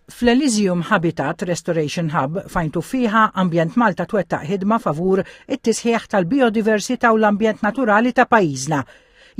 Fl-Elysium Habitat Restoration Hub f'Għajn Tuffieħa, Ambjent Malta twettaq ħidma favur it-tisħiħ tal-bijodiversità u l-ambjent naturali ta' pajjiżna.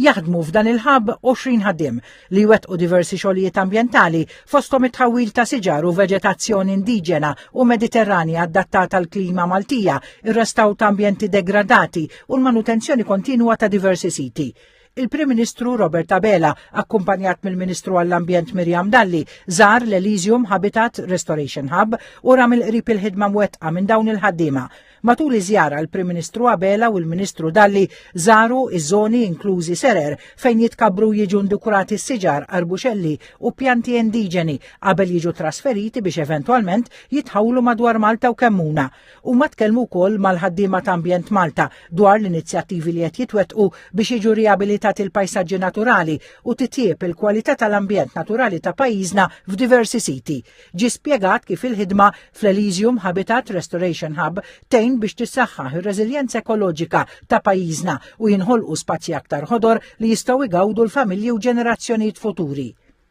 Jaħdmu f'dan il-hub 20 ħaddiem li jwettqu diversi xogħlijiet ambjentali fosthom it-tħawwil ta' siġar u veġetazzjoni indiġena u mediterranja adattata għal klima Maltija, ir-restawr ta' ambjenti degradati u l-manutenzjoni kontinwa ta' diversi siti. il-Prim Ministru Robert Abela, akkumpanjat mill-Ministru għall-Ambjent Mirjam Dalli, żar l-Elysium Habitat Restoration Hub u ram il-qrib il-ħidma mwettqa minn dawn il-ħaddiema. Matul iż-żjara l-Prim Ministru Abela u l-Ministru Dalli żaru iż-żoni inklużi serer fejn jitkabru jiġu ndukurati s-siġar, arbuxelli u pjanti indiġeni qabel jiġu trasferiti biex eventwalment jitħawlu madwar Malta u Kemmuna. Huma tkellmu wkoll mal-ħaddiema ta' Ambjent Malta dwar l-inizjattivi li qed jitwettqu biex jiġu riabilitati l-pajsaġġi naturali u titjieb il-kwalità tal-ambjent naturali ta' pajjiżna f'diversi siti. Ġie spjegat kif il-ħidma fl-Elysium Habitat Restoration Hub tgħin biex tissaħħaħ ir-reżiljenza ekoloġika ta' pajjiżna u jinħolqu spazji aktar ħodor li jistgħu jgawdu l-familji u ġenerazzjonijiet futuri.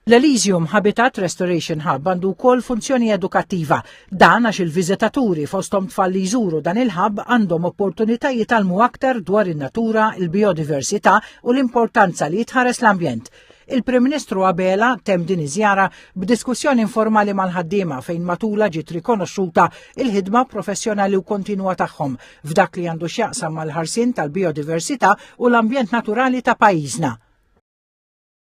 L-Elysium Habitat Restoration Hub għandu wkoll funzjoni edukattiva. Dan għax il-viżitaturi fosthom tfal li jżuru dan il-ħabb għandhom opportunità jitalmu aktar dwar in-natura, il-biodiversità u l-importanza li jitħares l-ambjent. Il-Prim Ministru Abela tem din iż-żjara b'diskussjoni informali mal-ħaddiema fejn matula ġiet rikonoxxuta il-ħidma professjonali u kontinwa tagħhom f'dak li għandu x'jaqsam mal-ħarsien tal-biodiversità u l-ambjent naturali ta' pajjiżna.